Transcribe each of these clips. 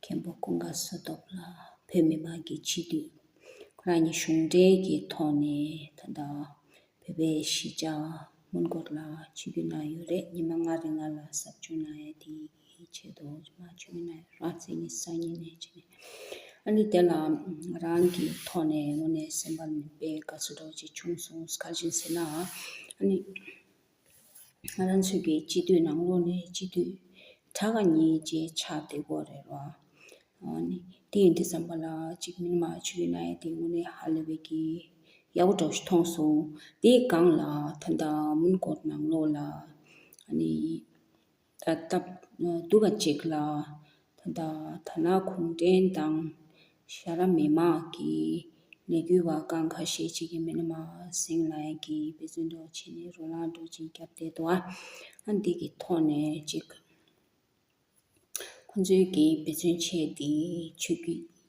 མཁན་པོ་ཀུན་དགའ་བསོད་སྟོབས་ལ་བོད་མི་དམངས་ཀྱི་སྤྱི་འཐུས། ཁོ་རང་ཉིད་གཞུང་འབྲེལ་གྱི་ཐོག་ནས་ད་ལྟ་བོད་པའི་གཞིས་ཆགས་སྔོན་འགོག་ལ་སྤྱི་འཐུས་གནང་ཡོད་རེད་ཉི་མ་ལྔ་རེ་ང་ལ་ཟབ་སྦྱོང་གནང་ཡ་དེའི་ཆེད་དུ་ཉི་མ་བཅུ་གནང་ཡོད་རང་བཙན་གྱི་སང་ཉིན་ནས་བྱས་ནས་ཨ་ནི་དེ་ལ་ང་རང་གི་ཐོག་ནས་ངོ་ནས་སེམས་པ་མི་དཔའི་དགའ་བསུ་རྡོ་རྗེ་ཆུང་སོང་ཁ་བཞིན་ཟེར་ནའང་ཨ་ནི། རང་ཚུགས་ཀྱི་སྤྱི་འཐུས་ནང་ལོགས་ནས་སྤྱི་འཐུས་གྲགས་ཀ་གཉིས་བཅས་ཆགས་བསྡད་སྐོར་རེད་ལ། དེ་ཡིན་དེ་བསམ་པ་ལ་གཅིག་མིན་མ་ཆོས་ཀྱི་གནའ་ཡས་དེ་དངོས་གནས་ཧ་ལས་པའི་གི་ཡག་པོ་གྲོགས་ཤིག་མཐོང་སོང། དེའི་སྒང་ལ་ད་ལྟ་མུན་སྐོར་ནང་ལོགས་ལ། ད་ལྟ་འདུག་པ་ཅིག་ལ། ད་ལྟ་ད་ལ་གུང་བྲན་དང། ཤ་ར་མེ་མ་གི་ལས་འགུལ་བ་ཀང་ཁ་ཤས་ཅིག་གི་མི་ལ་མ་སེང་ལ་ཡན་གི་བེ་བཙོན་འདོག་བྱེད་ནས་རོ་ལངས་འགྲོ་ཅིག་རྒྱབ་བསྡད་འདུག་ཨ། འདི་གི་ཐོག་ནས་ཅིག། ཁོང་ཚོའི་གི་བེ་བཙོན་ཆད་དེ་ཆོས་རྒྱུད།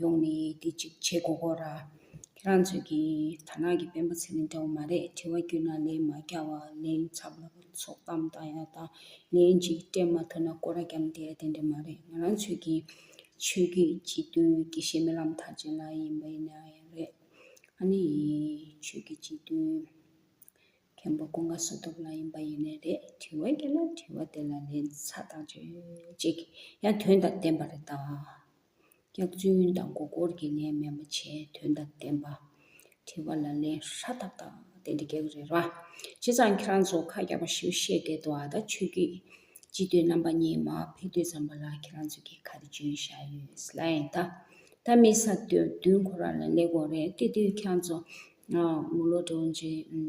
ཡོང་ནས་དེ་ཅིག་བྱེད་དགོས་སྐོར། ཁྱེད་རང་ཚོས་ཀྱི་དར་ནག་གི་དཔོན་པོ་ཚེ་རིང་འདྲ་བོ་མ་རེད་དྲི་བ་བརྒྱུད་ན་ལན་མ་རྒྱག་བ་ལན་ཚབ་ལ་ཚོགས་གཏམ་བཏང་ཡག་དང་ལན་གཅིག་སྤྲད་མ་ཐུབ་ན་སྐོར་ར་རྒྱབ་འདེད་དེ་འདྲ་མ་རེད་ང་རང་ཚོས་ཀྱི་ཆོས་རྒྱུད་སྤྱི་མཐུན་དགེ་བཤེས་རྨི་ལམ་མཐར་ཕྱིན་ལགས་ཡིན་པ་ཡིན་ན་ཡང་རེད་ཨ་ནེ་ཡི་ཆོས་རྒྱུད་སྤྱི་མཐུན་མཁན་པོ་ཀུན་དགའ་བསོད་སྟོབས་ལགས་ཡིན་པ་ཡིན་ནའི་རེད་དྲི་བ་བརྒྱུད་ན་དྲི་བ་དེ་ལ་ལན་ཚ་དང་བརྗོད་ཅིག་ཡང་དོན་དང་ལྡན་པ་རེད་ད། སྐྱག་རྫུན་དང་མགོ་སྐོར་གྱི་ལན་མེད་མ་བྱས་དོན་དང་ལྡན་པ། དྲི་བ་ལ་ལན་ཧྲ་ཏག་ཏག་བསྟན་ཏེ་སྐྱག་རེད་ར། བྱས་ཙང་ཁྱེད་རང་ཚོ་ཁ་རྒྱག་པ་ཞིག་བཤད་བསྡད་འདུག་ཨ་ད་ཆོས་རྒྱུད་སྤྱི་འཐུས་རྣམ་པ་གཉིས་མ་ཕེབས་དུས་ཙམ་པ་ལ་ཁྱེད་རང་ཚོས་ཀྱི་ཁ་དེ་འཇོན་བཞག་ཡོད་ས་ལ་ཨེ་ད། ད་མི་ས་བདུན་ཁོ་རང་ལ་ལས་དགོས་རེད་དེ་དུས་ཁྱེད་རང་ཚོ། ངོ་ལོག་འགྲོ་འཇིགས།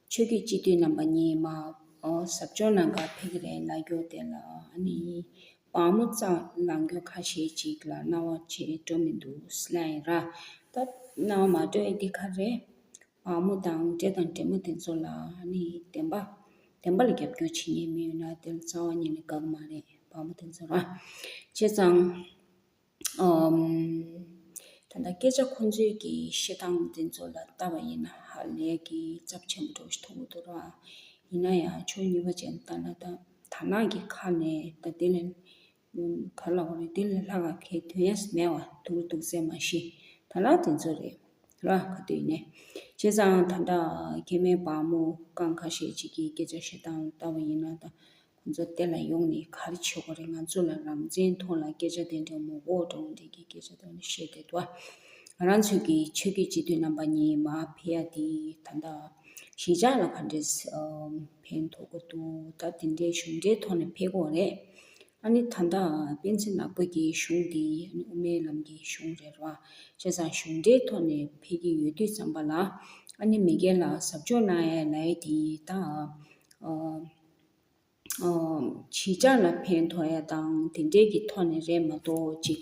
ཆོས་རྒྱུད་སྤྱི་འཐུས་རྣམ་པ་གཉིས་མ་གཟབ་སྦྱོང་གནང་སྐབས་ཕེ་ཁི་རའི་ལ་རྒྱོགས་དེ་ལ་ནི་བག་མོ་གཙང་ལ་འགྱོད་ཁ་ཤས་ཅིག་ལ་སྣང་བ་ཆེ་སྤྲོ་མི་འདུག་སླད་ཡིན་ར་སྟབས་སྣང་བ་མ་སྤྲོས་འདི་ག་རེ། བག་མོ་དང་འདྲེ་དང་འདྲེ་མོ་དེ་ཚོ་ལ་ནི་བདེན་པ། བདེན་པ་ལ་རྒྱབ་སྐྱོར་བྱེད་ཉེན་མི་ཡོད་ན་དེ་ལ་གཙང་བ་ཉིད་ནི་དགག་མ་རེད་བག་མོ་དེ་ཚོ་ར། བྱས་ཙང། ད་ལྟ་སྐད་ཆ་ཁོ་ཚོས་ཀྱི་བཤད་སྟངས་འདི་ཚོ་ལ་བལྟ་བ་ཡིན་ན་ཧ་ལས་ཀྱི་རྩབ་ཆེན་པོ་འགྲོ་བཞིན་འདུག་འདུག་ར། ཡིན་ན་ཡང་ཆོས་ཉིད་པ་ཅན་ལྟར་ན་ད་དར་ནག་གི་ཁ་ནས་ད་དེ་ལས། ག་ལ་བ་རེད་དེ་ལས་ལྷག་ག་གེ་དོན་ཡ་མེད་བ་འདུག་འདུག་ཟེར་མ་ཤེས་ད་ལ་དེ་ཚོ་རེད། ར་ག་དུས་ནས། བྱས་ཙང་ད་ལྟ་ཁྱེད་མེད་བག་མོ་རྐང་ཁ་ཤས་ཅིག་གི་སྐད་ཆ་བཤད་སྟངས་ལྟ་བ་ཡིན་ན་ད་ཁོང་ཚོ་དེ་ལ་ཡོང་ནས་ག་རེ་བྱེད་དགོས་རེད་ང་ཚོ་ལ་རང་བཙན་མཐོང་ལ་སྐད་ཆ་དེ་འདྲ་མོ་འོག་ཏུ་འོང་དེ་གི་སྐད་ཆ་དེ་འདྲ་བཤད་དེ་དུ་ཨ། རང་ཚོད་ཀྱི་ཆོས་རྒྱུད་སྤྱི་འཐུས་རྣམ་པ་གཉིས་མ་ཕེ་ཡ་དེ་ད་ལྟ་གཞིས་ཆགས་ལ་ག་འདྲ་ཕན་ཐོག་གི་འདུག་ད་དེ་འདྲའི་གཞུང་འབྲེལ་ཐོག་ནས་ཕེ་དགོས་རེད། ཨ་ནི་ད་ལྟ་སྤེན་ཚེ་ནག་པོ་གྱི་གཞུང་དེ་དབུ་མའི་ལམ་གྱི་གཞུང་རེད་ར་བྱས་ཙང་གཞུང་འབྲེལ་ཐོག་ནས་ཕེ་གི་ཡོད་དུས་ཙམ་པ་ལ་ཨ་ནི་མི་སྒེར་ལ་ཟབ་སྦྱོང་གནང་ཡ་ལ་ཡ་དེ་ད་ཨ། བྱེད་བྱ་ལ་ཕན་ཐོགས་ཡ་དང་དེ་འདྲས་ཀྱི་ཐོག་ནས་རེད་མ་གཏོགས་ཅིག་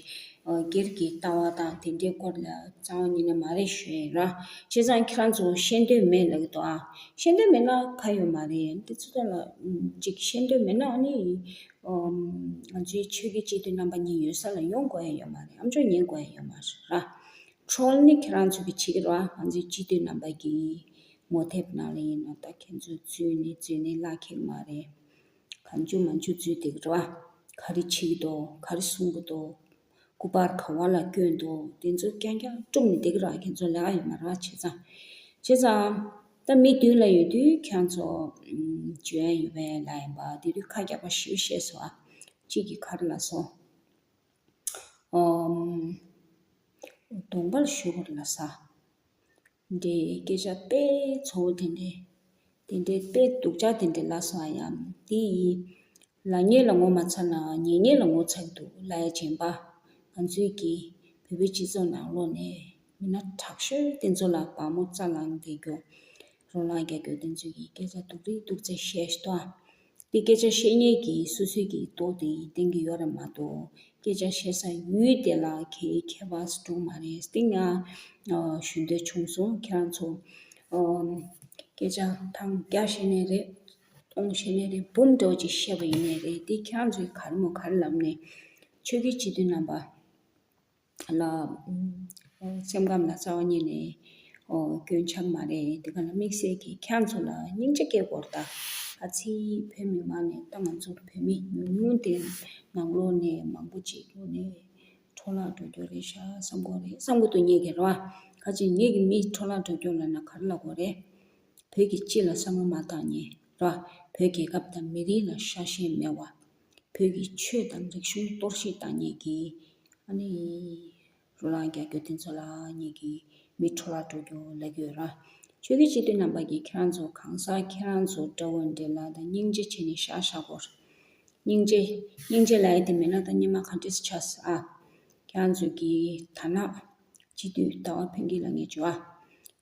སྒེར་གྱི་ལྟ་བ་དང་དེ་འདྲས་སྐོར་ལ་རྩ་བ་ཉིད་ནས་མ་རེད་ཞུས་ཡིན་རང་བྱས་ཙང་ཁྱེད་རང་ཚོ་ཤེས་འདོད་མེད་ལགས་ཏོ་ཨ། ཤེས་འདོད་མེད་ན་ཁ་ཡོད་མ་རེད་ཡིན་དེ་ཚོ་ལ་ཅིག་ཤེས་འདོད་མེད་ན་ནི་ང་ཚོའི་ཆོས་བརྒྱུད་སྤྱི་འཐུས་རྣམ་པ་གཉིས་ཡོད་ས་ལ་ཡོང་དགོས་ཡ་ཡོད་མ་རེད་ཨམ་ཅོག་ཉན་དགོས་ཡ་ཡོད་མ་རེད་ར། Troll ནི་ཁྱེད་རང་ཚོ་གི་བྱེད་ཀྱི་རོགས་ཨ་ང་ཚོའི་སྤྱི་འཐུས་རྣམ་པ་གྱིས་ངོ་དེབ་ནང་ལ་ཡིན་ནོ་ད་ཁྱེད་ཚོའི་ཚུལ་ནི་རྫུན་ནི་བརླག་ཁེག་མ་རེད། གང་འཇུག་མ་འཇུག་རྫུན་སྡིག་ར། ག་རེ་བྱེད་ཀྱི་འདུག་ག་རེ་གསུང་གི་འདུག་སྐུ་པར་ག་བ་ལ་བསྐྱོན་འདུག་དེ་ཚོ་རྐྱང་རྐྱང་བཀྲུབ་ནས་སྡིག་ར་ཁྱེད་ཚོ་ལས་ཀ་ཡོད་མ་ར་བྱས་ཙང། བྱས་ཙང། ད་མི་བདུན་ལ་ཡོད་དུས་ཁྱང་ཚོ་བྱོན་ཡོད་པའི་ལ་ཡིན་པ་དེ་དུས་ཁ་རྒྱག་པ་བཞི་བོ་བཤད་སོང་ཨ། གཅིག་གི་ཁར་ལ་སོང། ཨོ། གདོང་པར་བཞུགས་པར་ལ་ས། འདྲའི་སྐད་ཆ་དཔེ་ཚོ་བོ་དེ་འདྲའི། དེ་འདྲའི་དཔེ་སྡུག་ཅག་དེ་འདྲའི་ལ་སོང་ཡམ་དེ་ཡི། ལ་ཉེས་ལ་ངོ་མ་ཚར་ནའང་ཉེས་ཉེས་ལ་ངོ་ཚར་འདུག་ལ་ཡ་ཆེན་པ། ང་ཚོའི་གི། བོད་པའི་སྤྱི་ཚོགས་ནང་ལོག་ནས། མི་སྣ་དྲག་ཤོས་དེ་ཚོ་ལ་བག་མོ་རྩ་ལངས་རྒྱག་རྒྱུ། རོ་ལངས་རྒྱག་རྒྱུ་དེ་ཚོ་ཡི་སྐད་ཆ་སྡུག་རིགས་སྡུག་ཚད་བཤད་ཤི་ཏོ། དེ་སྐད་ཆ་བཤད་ཉེས་ཀྱིས་སུ་སུས་ཀྱིས་ལྟོ་དེ་ཡི་སྟེང་གི་ཡོ་ར་མ་གཏོགས་སྐད་ཆ་བཤད་ས་ཡུལ་དེ་ལ་གའི་ཁྱད་པ་སུ་འགྲོ་མ་རེད་སྟེ་ང་ཞུ་འདོད་བྱུང་སོང་ཁྱེད་རང་ཚོ་སྐད་ཆ་ཐང་རྒྱ་བཤད་ནས་རེད་སྟོང་བཤད་ནས་རེད་འབུམ་སྒྲོག་ཅིག་བཤད་པ་ཡིན་ནས་རེད་དེ་ཁྱེད་རང་ཚོའི་གར་མོ་གར་ལབ་ནས་ཆོས་ཀྱི་སྤྱི་དོན་རྣམ་པ། ལ། སེམས་ཁམས་ལ་རྩ་བ་ཉིད་ནས་རྒྱུན་ཆགས་མ་རེད་དེ་ག་ལ་དམིགས་བསལ་གྱིས་ཁྱེད་ཚོ་ལ་སྙིང་རྗེ་སྐྱེས་སྐོར་དང། ཨ་ཚི་བོད་མི་མང་ནས་ད་ང་ཚོར་བོད་མི་ཉུང་ཉུང་དེ་ནང་ལོག་ནས་མང་པོ་ཅིག་ཡོང་ནས་འཕྲོ་བརླག་འགྲོ་རྒྱུ་རེད་ཤག་བསམ་གོ་རེད་བསམ་གོ་ཏོ་ཉེས་ཀྱི་རོ། ཁ་ཅིག་ཉེས་ཀྱི་མི་འཕྲོ་བརླག་འགྲོ་རྒྱུ་ལ་ན་གར་ལ་གོ་རེད། བོད་ཀྱི་སྤྱི་ལ་བསམ་བློ་མ་བཏང་ཉེས་རོ། བོད་རྒྱལ་ཁབ་དང་མི་རིགས་ལ་ཤ་ཞེན་མེད་བ། བོད་ཀྱི་ཆོས་དང་རིག་གཞུང་གཏོར་བཤིག་བཏང་ཉེས་ཀྱི། ཨ་ནི། རོ་ལངས་རྒྱག་རྒྱུ་དེ་ཚོ་ལ་ཉེས་ཀྱི། མི་འཕྲོ་བརླག་འགྲོ་རྒྱུ་ལེགས་ཡོད་ར། ཆོས་ཀྱི་སྤྱི་དོན་རྣམ་པ་ཀྱི་ཁྱེད་རང་ཚོ་གང་ཟག་ཁྱེད་རང་ཚོ་དགྲ་བོ་འདྲེ་ལ་ད་སྙིང་རྗེ་བྱེད་ནི་ཤག་ཤག་གོ། སྙིང་རྗེ། སྙིང་རྗེ་ལ་ཡེ་དེ་མེད་ན་ད་སྙེ་མ་ག་འདྲེས་ཆགས་ཨ། ཁྱེད་རང་ཚོ་གི་ད་ནག། སྤྱི་འཐུས་ཟླ་བ་ཕུན་སྐྱིད་ལ་ངས་བརྗོད།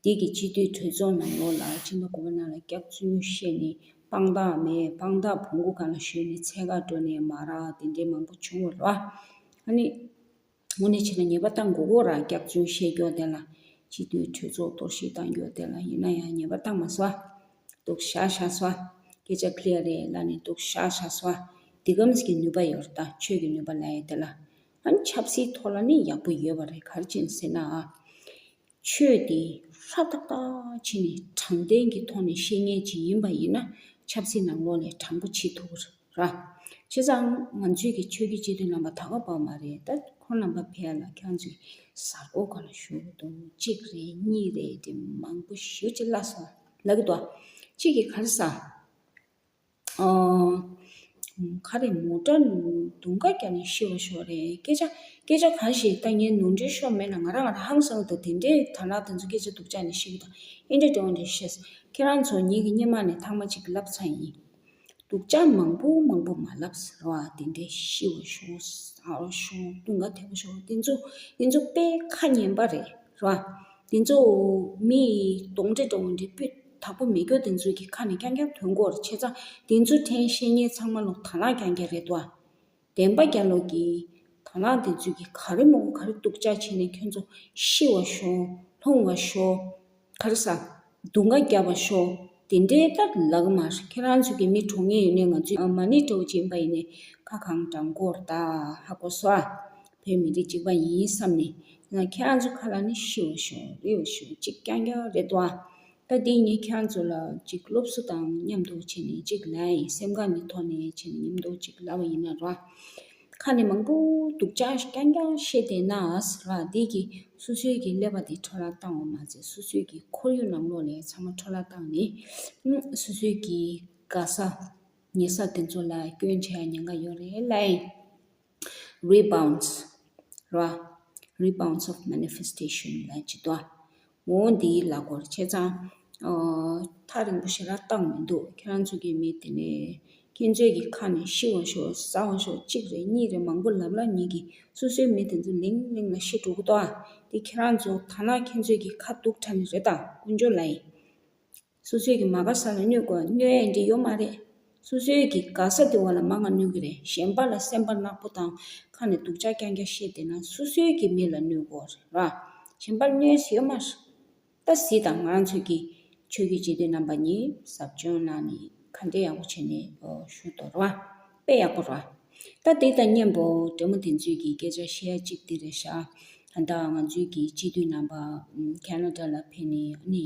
འདི་གི་སྤྱི་འཐུས་གྲོས་ཚོགས་ནང་ལོགས་ལ་སྤྱི་འཐུས་གོ་བ་ནང་ལ་སྐྱག་རྫུན་བཤད་ནི་དཔང་རྟགས་མེད་དཔང་རྟགས་བོང་གུ་གང་ལ་ཞོན་ནི་ཚད་བཀག་འགྲོ་ནས་མ་རག་དེ་འདྲའི་མང་པོ་བྱུང་བ་ར། ཨ་ནི། དངོས་གནས་བྱས་ན་ཉེས་པ་བཏང་དགོས་གོ་ར་སྐྱག་རྫུན་བཤད་རྒྱོག་དེ་ལ། སྤྱི་འཐུས་གྲོས་ཚོགས་གཏོར་བཤིག་བཏང་རྒྱོག་དེ་ལ་ཡིན་ན་ཡང་ཉེས་པ་བཏང་མ་སོ། སྡུག་བཤག་བཤག་སོ། སྐད་ཆ clear རེད་ལ་ནི་སྡུག་བཤག་བཤག་སོ། འདི་ཀམས་ཀྱི་ནུས་པ་ཡོད་ར་ད་ཆོས་ཀྱི་ནུས་པ་ལ་ཡོད་དེ་ལ། ཨང། ཆབ་སྲིད་ཐོག་ལ་ནི་ཡག་པོ་ཡོད་པ་རེད་གར་བྱིན་ཟེར་ན། ཆོས་དེ་ཧྲ་ཏག་ཏག་བྱིན་ནས་དྲང་བདེན་གྱི་ཐོག་ནས་བཤད་ཉན་བྱེད་ཡིན་པ་ཡིན་ན་ཆབ་སྲིད་ནང་ལོགས་ནས་དྲང་པོ་བྱེད་ཐུབ་ར། བྱས་ཙང་ང་ཚོས་ཀྱི་ཆོས་བརྒྱུད་སྤྱི་འཐུས་རྣམ་པ་ད་ག་པར་མ་རེད་ད་ཁོ་རྣམ་པ་ཕལ་ལ་ཁྱོད་ཚོས་གཟར་འགོ་ག་ལ་ཞུ་གི་འདུག་གཅིག་རེད་གཉིས་རེད་དེ་མང་པོ་ཞུ་ཅི་ལ་སོང་ལབ་གི་འདུག་གཅིག་གི་གར་ས། ཁ་རེ་མོ་སྐྲ་དུང་དཀར་རྒྱབ་ནས་ཤི་བ་ཞོག་རེད་སྐད་ཆ་སྐད་ཆ་གང་ཞིག་ལྟ་ཉན་ནོར་འཁྲུལ་ཤོར་མེད་ན་ང་རང་ང་རང་ཧམ་སངས་འདུག་དེ་འདྲའི་དར་ནག་དེ་ཚོ་སྐད་ཆ་སྡུག་ཅག་ནས་ཤི་གི་དང་ཨེ་འདྲ་འདྲ་བ་འདྲ་ཤེས་སོང་ཁྱེད་རང་ཚོ་ཉིད་ཀྱི་སྙེ་མ་ནས་ཐང་མ་གཅིག་བསླབ་ཚར་ཡིན་སྡུག་ཅག་མང་པོ་མང་པོ་མ་བསླབ་ཟེར་བ་དེ་འདྲ་ཤི་བ་ཞོག་སྟོན་ཀ་དལ་བ་ཞོག་དེ་ཚོ་དེ་ཚོ་དཔེ་ཁ་ཉན་པ་རེད་རེད་བ་དེ་ཚོ་མི་གདོང་འདྲེ་འདྲ་བོ་འདྲེ་སྤུད་དྭགས་པོ་མེ་སྒྱོགས་བདེན་འཚོལ་གྱི་ཁ་ནས་ཀྱང་ཀྱང་དོན་གོ་ར་ཆེ་ཚང་བདེན་འཚོལ་ཕྲན་བཤད་ཉན་ཚང་མ་ལོག་དྭགས་ལགས་ཀྱང་ཀྱང་རེད་དོ། བདེན་པ་རྒྱ་ལོག་གི། དྭགས་ལགས་བདེན་འཚོལ་གྱི་ག་རེ་མོག་ག་རེ་འདུག་ཅག་བྱེད་ནས་ཁྱོད་ཚོ་ཤི་བ་ཤོག་ལྷུང་བ་ཤོག། ག་རེ་ཟ། སྡུག་འགའ་རྒྱབ་པ་ཤོག་དེ་འདྲའི་ལྟར་ལག་དམར་ཁྱེད་རང་ཚོ་གི་མི་གྲོངས་ངེས་ཡིན་ནའི་ང་ཚོའི་མ་ནི་སྤྲེའུ་ཅན་པ་ཡིན་ནའི་ཁ་གང་བགྲང་གོ་ར་དྭགས་ལྷག་པོ་ཟ། བོད་མི་རིགས་གཅིག་པ་ཡིན་བསམ་ནས་ང་ཁྱེད་རང་ཚོ་ཁ་ལ་ནི་ཤི་བ་ཤོག་རིལ་བ་ཤོག་གཅིག་རྐྱང་རྐྱང་རེད་དོ། ད་འདི་ངས་ཁྱེད་རང་ཚོ་ལ་གཅིག་སློབ་གསོ་དང་མཉམ་དུ་བྱས་ནས་གཅིག་ལ་ཡི་སེམས་གང་གི་ཐོག་ནས་བྱས་ནས་མཉམ་དུ་གཅིག་ལབ་པ་ཡིན་ན་ར། ཁ་ནས་མང་པོ་སྡུག་ཅག་རྐྱང་རྐྱང་བཤད་བསྡད་ན་ར་འདི་གི་སོ་སོའི་གི་ཀླད་པ་དེ་འཕྲོ་བརླག་བཏང་བ་མ་ཚད་སོ་སོའི་གི་ཁོར་ཡུག་ནང་ལོག་ལས་ཚང་མ་འཕྲོ་བརླག་བཏང་ནས་སོ་སོའི་གི་དགའ་ས་ཉེ་ས་དེ་ཚོ་ལ་སྐྱོན་བྱས་ཡ་ཉེན་ཁ་ཡོད་རེད་ལ། Rebounds ར། Rebounds of Manifestation ལ་ཇི་ལྟ་བུ་འོ་འདིའི་ལ་གོར་ཁྱེད་ཚང་ཐག་རིང་པོ་ཞིག་ར་བཏགས་མི་འདུག་ཁྱེད་རང་ཚོ་གི་མི་དེ་ནས་ཁྱེད་ཚོའི་གི་ཁ་ནས་ཤི་བ་ཤོག་ཟ་བ་ཤོག་གཅིག་རེ་གཉིས་རེ་མང་པོ་ལབ་ལབ་ཉིད་ཀྱི་སོ་སོའི་མི་དེ་ཚོ་ལིང་གླིང་ལ་ཤི་འགྲོ་གི་འདུག་ཨ་འདི་ཁྱེད་རང་ཚོ་ཐ་ན་ཁྱེད་ཚོའི་གི་ཁ་གདུགས་ཁྲ་ནི་རེད་ད་ཀུན་སྦྱོར་ལ་ཡིན། སོ་སོའི་གི་མ་དགའ་ས་ལ་སྨྱོས་དགོས་བ་སྨྱོས་ཡས་འདི་ཡོད་མ་རེད། སོ་སོའི་གི་དགའ་ས་དེ་བ་ལ་མ་ང་སྨྱོས་གི་རེད་གཞན་པ་ལ་སེམས་པ་ནག་པོ་དང་ཁ་ནས་སྡུག་ཅག་རྐྱང་རྐྱང་བཤད་བསྡད་ན་སོ་སོའི་གི་མི་ལ་སྨྱོས་དགོས་རེད་བ། གཞན་པ་ལ་སྨྱོས་ཡས་ཡོད་མ་རེད། ད་གཟི་དང་ང་རང་ཚོའི་གི་ཆོས་རྒྱུད་སྤྱི་འཐུས་རྣམ་པ་གཉིས་ཟབ་སྦྱོང་གནང་ནས་ག་འདྲེ་ཡག་པོ་བྱས་ནས་ཞུ་དོ་རེད་བ། དཔེ་ཡག་པོ་རེད་བ། ད་འདི་དང་གཉེན་པོ་འདྲེ་མོ་དེ་ཚོའི་གི་སྐད་ཆ་བཤད་ཡ་གཅིག་འདི་རེད་ཤག་ད་ང་ཚོའི་གི་སྤྱི་འཐུས་རྣམ་པ Canada ལ་ཕེབས་ནས་ཨ་ནི།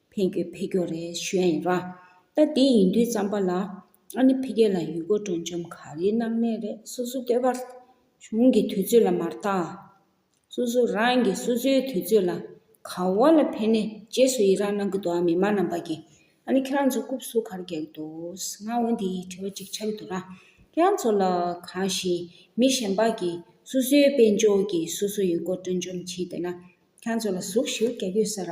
ཕན་རྒྱུའི་འཕེལ་འགྱུར་རེ་ཞུ་ཡིན། ད་དེ་ཡིན་དུས་བརྩམས་པ་ལ་ཨ་ནི་ཕི་གེ་ལ་ཡུལ་སྐོར་སྤྲོ་འཆམ་ག་རེའི་སྣང་གནས་རེ་སོ་སོ་བསྟོད་པར་གཞུང་གི་དུས་ཚོད་ལ་མ་བརྟགས། སོ་སོ་རང་གིས་སོ་སོའི་དུས་ཚོད་ལ་ག་བ་ལ་ཕན་ནས་རྗེས་སུ་ཡི་རང་གནང་གི་འདུག་ཨ་མི་མ་རྣམས་པ་གིས་ཨ་ནི་ཁྱེད་རང་ཚོ་རྐུབ་ཟུག་གར་རྒྱག་འདུག་ང་འོ་འདི་ཡི་དྲི་བ་གཅིག་བྱ་གི་འདུག་ར་ཁྱེད་རང་ཚོ་ལ་གང་ཞིག་མི་གཞན་པ་གིས་སོ་སོའི་དཔལ་འབྱོར་གྱིས་སོ་སོ་ཡུལ་སྐོར་སྤྲོ་འཆམ་བྱས་བསྡད་ན་ཁྱེད་རང་ཚོ་ལ་ཟུག་ཞིག་རྒྱག་ཡོད་ས་ར།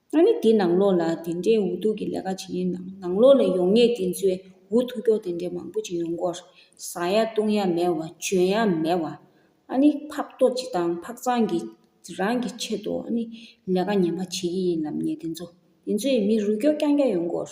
ང་ནི་འདི་ནང་ལོགས་ལ་དེ་འདྲའི་འུ་ཐུག་གི་ལས་ཀ་བྱེད་ཡུལ་ནང་ནང་ལོགས་ལ་ཡོང་ངེས་དེ་ཚོའི་འུ་ཐུག་ཀྱོག་དེ་འདྲའི་མང་པོ་ཅིག་ཡོང་སྐོར། ཟ་ཡ་བཏུང་ཡ་མེད་བ་འཇོན་ཡ་མེད་བ། ཨ་ནི་ཕག་གཏོ་ཅི་དང་ཕག་ཚང་གི་རང་གི་ཆེད་དུ་ཨ་ནི་ལས་ཀ་ངན་པ་བྱེད་ཀྱི་ཡིན་ལབ་ངེས་དེ་ཚོ་དེ་ཚོའི་མི་རུ་ཀྱོག་རྐྱང་རྐྱང་ཡོང་སྐོར།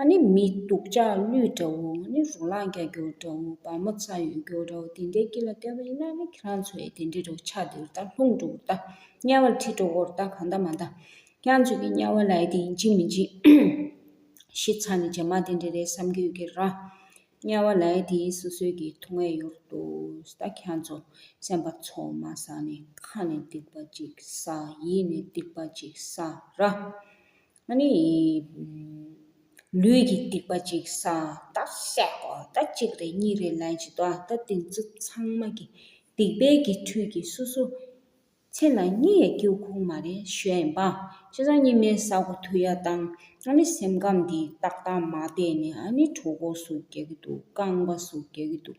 ཨ་ནི་མི་སྡུག་ལྕགས་གླུད་འདྲ་བོ་ཨ་ནི་རོ་ལངས་རྒྱ་སྒྱུར་འདྲ་བོ་བ་མོ་ཚ་ཡོད་སྒྱུར་འདྲ་བོ་དེ་འདྲའི་སྐྱིད་ལ་བལྟས་པ་ཡིན་ན་ཨ་ནི་ཁྱེད་རང་ཚོའི་དེ་འདྲའི་འདྲ་བོ་ཆ་འདིར་ལྟ་ལྷུང་འདྲ་བོར་ལྟ་དམྱལ་བར་ཁྲིད་འདྲ་བོར་ལྟ་གང་ལྟ་མ་ལྟ་ཁྱེད་རང་ཚོས་ཀྱི་དམྱལ་བ་ལ་ཡི་དེ་ཡིན་གཅིག་མིན་གཅིག་ཤི་ཚ་ནི་རྗེས་མ་དེ་འདྲའི་རེད་བསམ་གྱི་ཡོད་ཀྱི་ར། དམྱལ་བ་ལ་ཡི་དེ་ཡིན་སོ་སོའི་ཀྱི་ཐུགས་ངལ་ཡོར་འདུག་ད་ཁྱེད་རང་ཚོ་སེམས་པ་འཚོ་མ་ས་ནི་ཁ་ནས་སྡིག་པ་གཅིག་ས་ཡིད་ནས་སྡིག་པ་གཅིག་ས་ར། ནི། ལུས་ཀྱི་སྡིག་པ་གཅིག་སངས་རྟགས་བཤད་པ་ད་གཅིག་རེ་གཉིས་རེ་ལན་ཅིག་ཏུ་ད་དེ་ཚོ་ཚང་མ་གི་སྡིག་པའི་གི་འཁྲུལ་གི་སོ་སོ་མཚན་ལ་གཉིས་ཡ་ཀྱིའུ་ཁུང་མ་རེ་ཞོ་ཡན་པ་ཅི་ས་གཉིས་མེད་ས་གོ་དུ་ཡ་དང་ཨ་ནི་སེམས་ཁམས་འདི་ཏག་ཏག་མ་བལྟས་ནི་ཨ་ནི་གྲོ་གོ་སུ་རྒྱག་གི་འདུག་རྐང་པ་སུ་རྒྱག་གི་འདུག་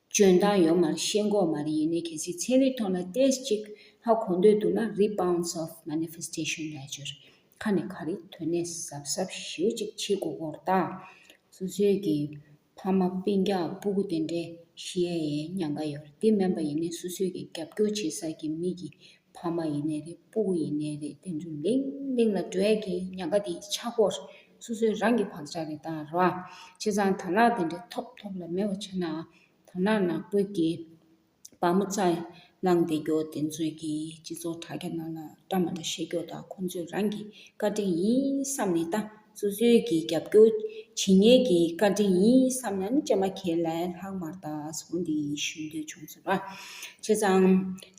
འཇོན་ཐང་ཡོད་མར་ཤེས་འགོག་མ་རེད་ཡིན་ནའི་གལ་སྲིད་ཚན་རིག་ཐོག་ལ་ཏེས་གཅིག་ལྷག་གོ་འདོད་འདུག་ན Rebounds of Manifestation ལས་སྦྱོར་ཁ་ནས་ག་རེ་དོན་གནད་ཟབ་ཟབ་ཞེའུ་གཅིག་ཕྱིས་གོ་གོ་ར་དང། སོ་སོའི་གི་ཕ་མ་པིན་རྒྱག་སྤུ་གུ་དེ་འདྲའི་ཤི་ཡའི་ཡའི་ཉག་ག་ཡོད་རེད་དེ་མེན་པ་ཡིན་ནའི་སོ་སོའི་གི་རྒྱབ་སྐྱོར་བྱེད་ས་གི་མི་གི་ཕ་མ་ཡིན་ནས་རེད་སྤུ་གུ་ཡིན་ནས་རེད་དེ་ཚོ་ལིང་ལིང་ལ་འགྲོ་ཡས་ཀྱི་ཉག་ག་དེའི་ཆག་སྒོ་རེད་སོ་སོའི་རང་གི་བག་ཆག་རེད་ད་ར་བ་བྱས་ཙང་དར་ནག་དེ་འདྲའི་ཐོབ་ཐོབ་ལ་མེད་པ་བྱས་ན་དར་ནག་ནག་པོའི་གི་བ་མོ་རྩ་ནང་དེ་གྱོ་དེ་ཚོས་ཀྱི་སྤྱི་ཚོགས་དྲ་རྒྱ་ནང་ལ་བཀྲ་མ་འདྲ་ཤེས་གྱོ་ད་ཁོ་ཚོས་རང་གི་བཀའ་དྲིན་ཡིན་བསམ་ནས་ད་སོ་སོའི་གི་རྒྱབ་སྐྱོ་བྱེད་ཉེས་ཀྱི་བཀའ་དྲིན་ཡིན་བསམ་ན་ནི་ཅེ་མ་ཁྱེད་ལས་ལྷག་མར་ད་སོ་འདི་ཞུ་འདོད་བྱུང་ཟེར་བ་བྱས་ཙང་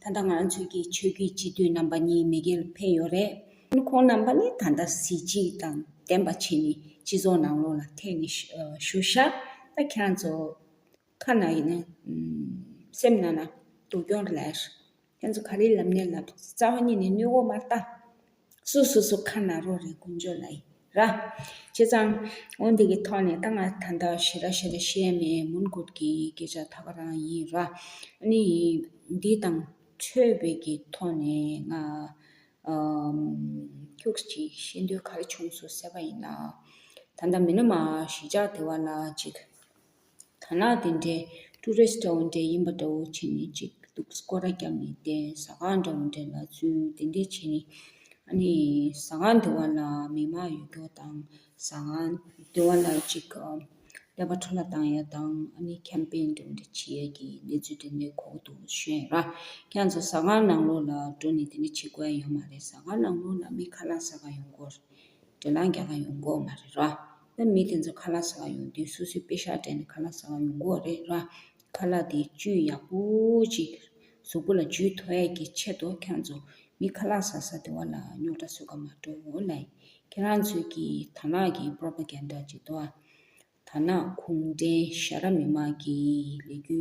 ད་ལྟ་ང་ཚོས་ཀྱི་ཆོས་བརྒྱུད་སྤྱི་འཐུས་རྣམ་པ་གཉིས་མི་སྒེར་ཕེབས་ཡོད་རེད། ཁོང་རྣམ་པ་ནི་ད་ལྟ་གཟི་བརྗིད་དང་ལྡན་པ་བྱས་ནས་སྤྱི་ཚོགས་ནང་ལོགས་ལ་ཐེག་ནས་བཞུགས། ཤ་སྟག་ཁྱེད་རང་ཚོ་ཁ་ན་ཡིན་ན། སེམས་ནང་ན་སྡུག་གྱོང་རེ་ལས། ཁྱེད་ཚོ་ག་རེའི་ལམ་ནས་ལབ་རྩ་བ་ཉིད་ནས་གནོད་འོག་མར་ལྟ། སུ་སུ་སུ་ཁ་ན་རོ་རེ་ཀུན་སྦྱོར་ན་ཡི་ར། བྱས་ཙང། འོན་འདི་གི་ཐོག་ནས་ད་ང་ད་ལྟ་ཞེ་ར་ཞེ་ར་བཤད་མེད་མུན་བསྐོར་གི་སྐད་ཆ་ད་ག་རང་ཡིན་ར། ནི་ཡིན། འདི་དང། ཆོས་བོད་ཀྱི་ཐོག་ནས་ང། ཁྱོད་ཀྱིས་བཤད་འདོད་ག་རེ་བྱུང་སུ་ཟེར་བ་ཡིན་ན། ད་ལྟ་མི་ནུ་མ་ཞི་ཅག་དེ་བ་ལ་ཅིག། དར་ནག་དེ་འདྲའི་ཀྲུ་རེ་ས་འདྲ་བོ་འདྲ་ཡིན་པ་འདྲ་བོ་བྱེད་ནི་ཅིག་འདུག་ཀོ་ར་རྒྱབ་ནས་བསྟན་ཟ་ཁང་འདྲ་བོ་འདྲ་ལ་བཙུན་དེ་འདྲ་བྱེད་ནི། ཨ་ནི་ཟ་ཁང་འདི་བ་ལ་མི་མང་ཡོད་སྐྱོར་དང་ཟ་ཁང་འདི་བ་ལ་ཅིག་ཀླད་པ་འཕྲོ་ལ་བཏང་ཡ་དང་ཨ་ནི་ཁྱམས་དཔེ་འདྲ་བོ་འདྲ་བྱེད་ཡ་གི་གནས་ཚུལ་འདྲ་འདྲ་གོ་དགོས་འདུག་ཤོད་ཡ་ར་ཁྱེད་ཚོ་ཟ་ཁང་ནང་ལོགས་ལ་འགྲོ་ནི་དེ་འདྲ་བྱེད་དགོས་ཡ་ཡོད་མ་རེད་ཟ་ཁང་ནང་ལོགས་ལ་མི་ཁ་ལག་ཟ་ཁང་ཡོང་དགོས་རེད་དྲ་ལང་རྒྱག་ཁང་ཡོང་དགོས་མ་རེད་ར། ན་མི་དེ་ཚོ་ཁ་ལག་ཟ་བ་ཡོང་དུས་སོ་སོའི་དཔེ་ཤག་སྤྲད་ནས་ཁ་ལག་ཟ་བ་ཡོང་དགོས་བ་རེད་ལ། ཁ་ལག་དེ་བཅུད་ཡག་པོ་ཅིག་གཟུགས་པོ་ལ་འཇུས་ཐོ་ཨེ་གི་ཆེད་དུ་ཁྱོད་ཚོ་མི་ཁ་ལག་ཟ་ཟ་དེ་བ་ལ་རྙོག་དྲ་བཟོས་ཀ་མ་དྲོ་འོ་ལ། ཁྱེད་རང་ཚོས་ཀྱི་དར་ནག་གི Propaganda ཅིག་དོ་ཨ། དར་ནག་གུང་བྲན་ཤ་ར་མི་མང་གི་ལས་རྒྱུ་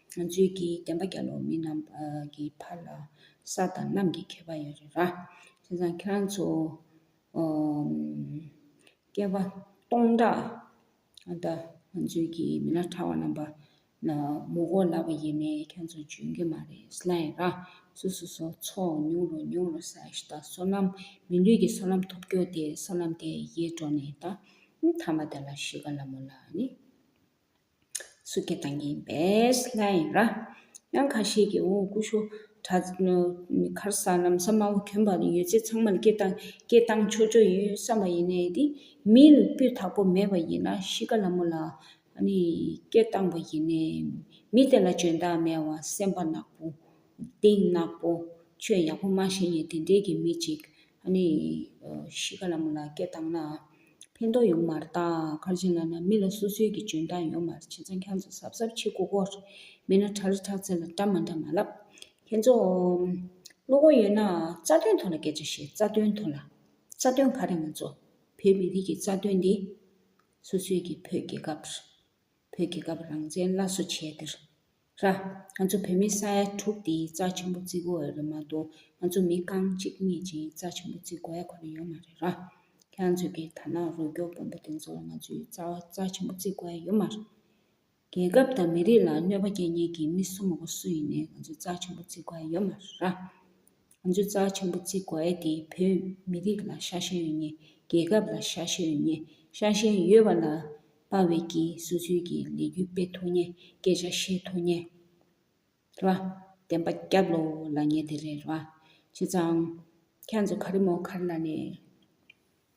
ང་ཚོའི་གི་བསྟན་པ་རྒྱ་ལོ་མི་རྣམས་ཀྱི་ཕར་ལ་ས་དང་གནམ་གྱི་ཁྱད་པར་ཡོད་རེད་ར། དེ་ཚང་ཁྱེད་རང་ཚོ་སྐྱེ་བ་སྟོང་ཕྲག་ད་ང་ཚོའི་གི་མི་ནག་ཁྲ་བ་རྣམས་པ་ན་མོ་གོ་ལ་བ་ཡིན་ནའི་ཁྱེད་རང་ཚོ་འཇོན་གི་མ་རེད་སི་ལ་ཡིན་ར། སུ་སུ་སོ་ཚོ་ཉུང་རུ་ཉུང་རུ་སའི་ཤི་ད་སོ་ནམ་མི་ལུས་ཀྱི་སོ་ནམ་ཐོབ་རྒྱོ་དེ་སོ་ནམ་དེ་ཡེ་འགྲོ་ནས་ད་མཐའ་མ་དེ་ལ་ཤི་ག་ལ་མོ་ལ་ནི། སུ་ཀེ་དང་ཡིན་པས་ལྷ་ཡིན་ར། དབྱངས་ཁ་ཤས་ཀྱིས་འོང་སྐུ་ཤོ་གྲ། མཁར་ས་ནམ་ས་མང་བོ་གྱོན་པ་ཡོད་ཚད་ཚང་མར་སྐད་བཏང་སྐད་བཏང་ཆོག་ཆོག་ཡིན་བསམ་པ་ཡིན་ནའི་དེ་མི་ལ་སྤུས་དག་པོ་མེད་པ་ཡིན་ན་གཤིས་ཀ་ལ་མོ་ལ་ནི་སྐད་བཏང་པ་ཡིན་ནའི་མི་དེ་ལ་འཇོན་ཐང་མེད་བ་སེམས་པ་ནག་པོ། གཏིང་ནག་པོ། ཆོས་ཡག་པོ་མ་ཤེས་ནའི་དེ་འདྲས་ཀྱི་མི་ཅིག་ཨ་ནེ་ཡིས་ཤི་ཁ་ལ་མོ་ལ་སྐད་བཏང་ན། ཕན་ཐོགས་ཡོང་མར་བལྟ། ཁར་ཆེན་ལ་ན་མི་ལ་སོ་སོའི་གི་འཇོན་ཐང་ཡོང་མར་བྱེད་ཚ་འཁྱང་ཚ་སབ་སབ་ཕྱི་གོ་གོ། མི་ན་ཁྲ་རི་ཁྲག་ཚེ་ལ་བཀྲ་མ་འདྲ་མ་ལབ། ཁྱེད་ཚོ། བློ་ཁོག་ཡོད་ན་རྩ་དོན་ཐོག་ལ་སྐད་ཆ་བཤད་རྩ་དོན་ཐོག་ལ། རྩ་དོན་ག་རེ་ང་ཚོ། བོད་མི་རིགས་ཀྱི་རྩ་དོན་འདི། སོ་སོའི་གི་བོད་རྒྱལ་ཁབ། བོད་རྒྱལ་ཁབ་རང་བཙན་སླར་གསོ་བྱས་འདིར། ར། ང་ཚོ་བོད་མི་ས་ཡ་དྲུག་འདིའི་རྩ་ཆེན་པོ་བརྩི་དགོས་རེད་མ་གཏོགས་ང་ཚོ་མི་རྐང་གཅིག་གཉིས་ཀྱིས་རྩ་ཆེན་པོ་བརྩི་དགོས་ཡ་གོ་རེ་ཡོད་མ་རེད་ར། ཁྱེད་ཚོས་ཀྱི་ཐ་ན་རུ་སྐྱོར་དཔོན་པོ་དེ་ཚོ་ལ་ང་ཚོའི་རྩ་བ་རྩ་ཆེན་པོ་བརྩི་དགོས་ཡ་ཡོད་མ་རེད། རྒྱལ་ཁབ་དང་མི་རིགས་ལ་གནོད་པ་སྐྱེལ་མཁན་གྱི་མི་སུ་མོ་གོ་སུ་ཡིན་ནས་ང་ཚོའི་རྩ་ཆེན་པོ་བརྩི་དགོས་ཡ་ཡོད་མ་རེད་ར། ང་ཚོས་རྩྭ་ཆེན་པོ་བརྩིག་དགོས་ཨེ་དེ་བོད་མི་རིགས་ལ་ཤ་ཞེན་ཡོད་ངེས་རྒྱལ་ཁབ་ལ་ཤ་ཞེན་ཡོད་ངེས་ཤ་ཞེན་ཡོད་པ་ལ་དཔའ་བོས་ཀྱིས་སུ་ཚུལ་གྱི་ལས་རྒྱུ་སྤེལ་ཐུབ་ངེས་སྐད་ཆ་བཤད་ཐུབ་ངེས་རེད་བ། བདེན་པ་སྐྱབས་ལོ་ལ་ངེས་དེ་རེད་བ། བྱས་ཙང། ཁྱེད་ཚོ་ག་རེ་མོ་ག་རེ་ལ་ནི།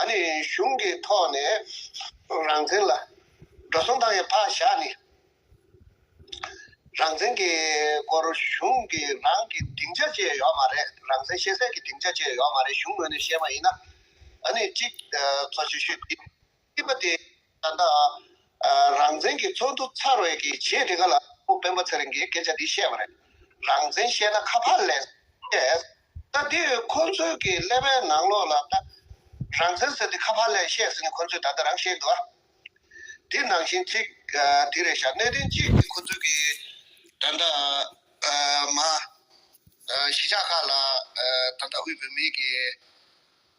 ཨ་ནི་གཞུང་གི་ཐོག་ནས་རང་བཙན་ལ་འགྲོ་སོང་བཏང་བའི་བག་ཞགས་ནི། རང་བཙན་གྱི་སྐོར་གཞུང་གི་རང་གི་སྡིངས་ཆ་བཅས་ཡོད་མ་རེད། རང་བཙན་ཤེས་གསལ་གྱི་སྡིངས་ཆ་བཅས་ཡོད་མ་རེད་གཞུང་ངོས་ནས་བཤད་མ་ཡིན་ན། ཨ་ནི་གཅིག་གཙོ་ཆེ་ཤོས་དེ་སྲིད་པ་དེ། ད་ལྟ་རང་བཙན་གྱི་ཚོགས་འདུ་ཚར་བའི་གི་རྗེས་དེ་ག་ལ་སྤོ་སྤེན་པ་ཚེ་རིང་གིས་སྐད་ཆ་འདི་བཤད་པ་རེད། རང་བཙན་བཤད་ན་ཁ་ཕར་ལེན། ད་དེ་ཡོད་ཁོང་ཚོའི་གི་ཀླད་པའི་ནང་ལོག་ལ་རང་བཙན་ཟེར་ཏེ་ཁ་ཕར་ལན་བཤད་ཟིན་ནས་ཁོང་ཚོས་ད་ལྟ་རང་ཤེས་འདུག་དེ་ནང་བཞིན་ཚིག་དེ་རེད་ཤག་གནད་དོན་གཅིག་གི་ཁོང་ཚོའི་གི་ད་ལྟ་མ་གཞིས་ཆགས་ཁག་ལ་ད་ལྟ་དབུས་བོད་མིའི་གི།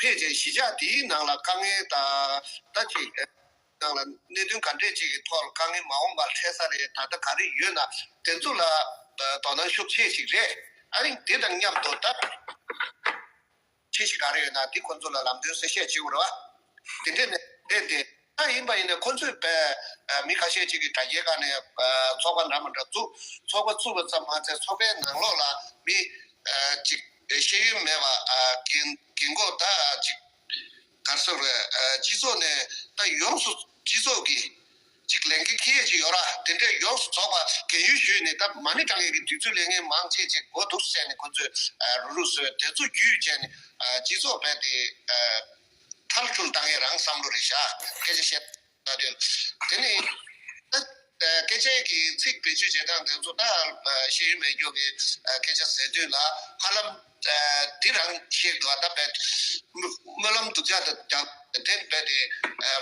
ཕལ་ཆེར་གཞིས་ཆགས་དེའི་ནང་ལ་དཀའ་ངལ་དང། ཟླ་གཅིག་རེའི་ནང་ལ་གནད་དོན་ག་འདྲས་ཅིག་གི་ཐོག་ལ་དཀའ་ངལ་མ་འོངས་པར་འཕྲད་ས་རེད་ད་ལྟ་ག་རེ་ཡོད་ན་དེ་ཚོ་ལ་དོ་སྣང་ཤུགས་ཆེ་ཞིག་རེད་ཨ་རིང་དེ་དང་མཉམ་དུ་ད་ཁྱི་ཞིག་ག་རེ་ཡོད་ན་དེ་ཁོ་ཚོ་ལ་ལམ་སྟོན་གསལ་བཤད་བྱེད་དགོས་རེད་བ། དེ་འདྲས་ནས་འདས་ཏེ་ལྟར་ཡིན་པ་ཡིན་ནས་ཁོ་ཚོས་བལ་མི་ཁ་ཤས་ཅིག་གིས་དྲ་རྒྱའི་སྒང་ནས་ཚོགས་པ་འདྲ་མ་འདྲ་བཙུགས། ཚོགས་པ་བཙུགས་པ་ཙམ་མ་ཟད་ཚོགས་པའི་ནང་ལོགས་ལ་མི་གཅིག་ཤེས་ཡོན་མེད་པ་གིན་འགོ་ཟླ་གཅིག་གར་སོང་བས་སྤྱི་ཚོགས་ནས་ད་ཡོངས་སུ་སྤྱི་ཚོགས་ཀྱིས་ཅིག་ལས་འགན་ཁེ་ཡས་ཅིག་ཡོད་ར་དེ་འདྲས་ཡོངས་སུ་རྫོགས་པ་གན་ཡུལ་ཞུས་ནས་ད་མ་ཎི་དྲ་ངན་གྱི་དུས་ཚོད་ལས་ངན་མང་ཆེ་ཆེ་གོ་འདུག་བསད་ནས་ཁོ་ཚོས་རུ་ལུ་སོད་དེ་ཚོ་རྒྱུས་བཅད་ནས་སྤྱི་ཚོགས་བལ་དེ་ཁྲར་ཁྱུར་བཏང་ཡས་རང་བསམ་བློ་རེ་བཞག་སྐད་ཆ་བཤད་ད་དོན། དེ་ནི། སྐད་ཆའི་གི་ཚིག་བེད་སྤྱོད་བྱེད་སྟངས་དེ་ཚོ་ད་ཤེས་ཡོན་མེད་སྐྱོ་གི་སྐད་ཆ་ཟེར་དུས་ལ་ཧ་ལམ་དེ་རང་ཤེས་དགོས་བ་ད་རྦད། སྨོན་ལམ་སྡུག་ཅག་ད་རྒྱག་དེ་རྦད་དེ།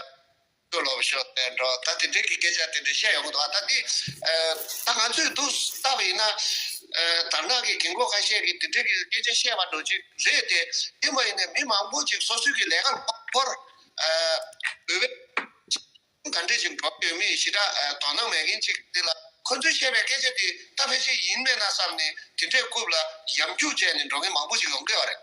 ལྟོས་ལོག་ཤོག་དེ་འདྲོག་ད་དེ་འདྲེ་གི་སྐད་ཆ་དེ་འདྲེ་བཤད་ཡོང་གི་འདུག་ཨ་ད་དེ་ད་ང་ཚོས་འདུག་ལྟ་བ་ཡིན་ན་དར་ནག་གི་རྒན་གོ་ཁ་ཤས་ཀྱི་དེ་འདྲེ་གི་སྐད་ཆ་བཤད་པ་འདྲོག་ཅིག་རེད་དེ་དེ་མ་ཡིན་ནས་མི་མང་པོ་ཅིག་སོ་སོའི་གི་ལས་ཀ་ལ་འཁོར་འོས་བའི་ག་འདྲེ་ཅིག་འདྲོག་ཡོད་མེད་ཞི་དྲག་དོ་སྣང་མེད་མཁན་ཅིག་དེ་ལ་ཁོ་ཚོས་བཤད་པའི་སྐད་ཆ་དེ་ལྟ་ཕལ་ཆེར་ཡིན་མེད་ན་བསམ་ནས་དེ་འདྲེ་རྐུབ་ལ་ཡམ་རྒྱུག་བྱས་ནས་འདྲོག་མཁན་མང་པོ་ཅིག་ཡོང་གི་ཡོད་རེད།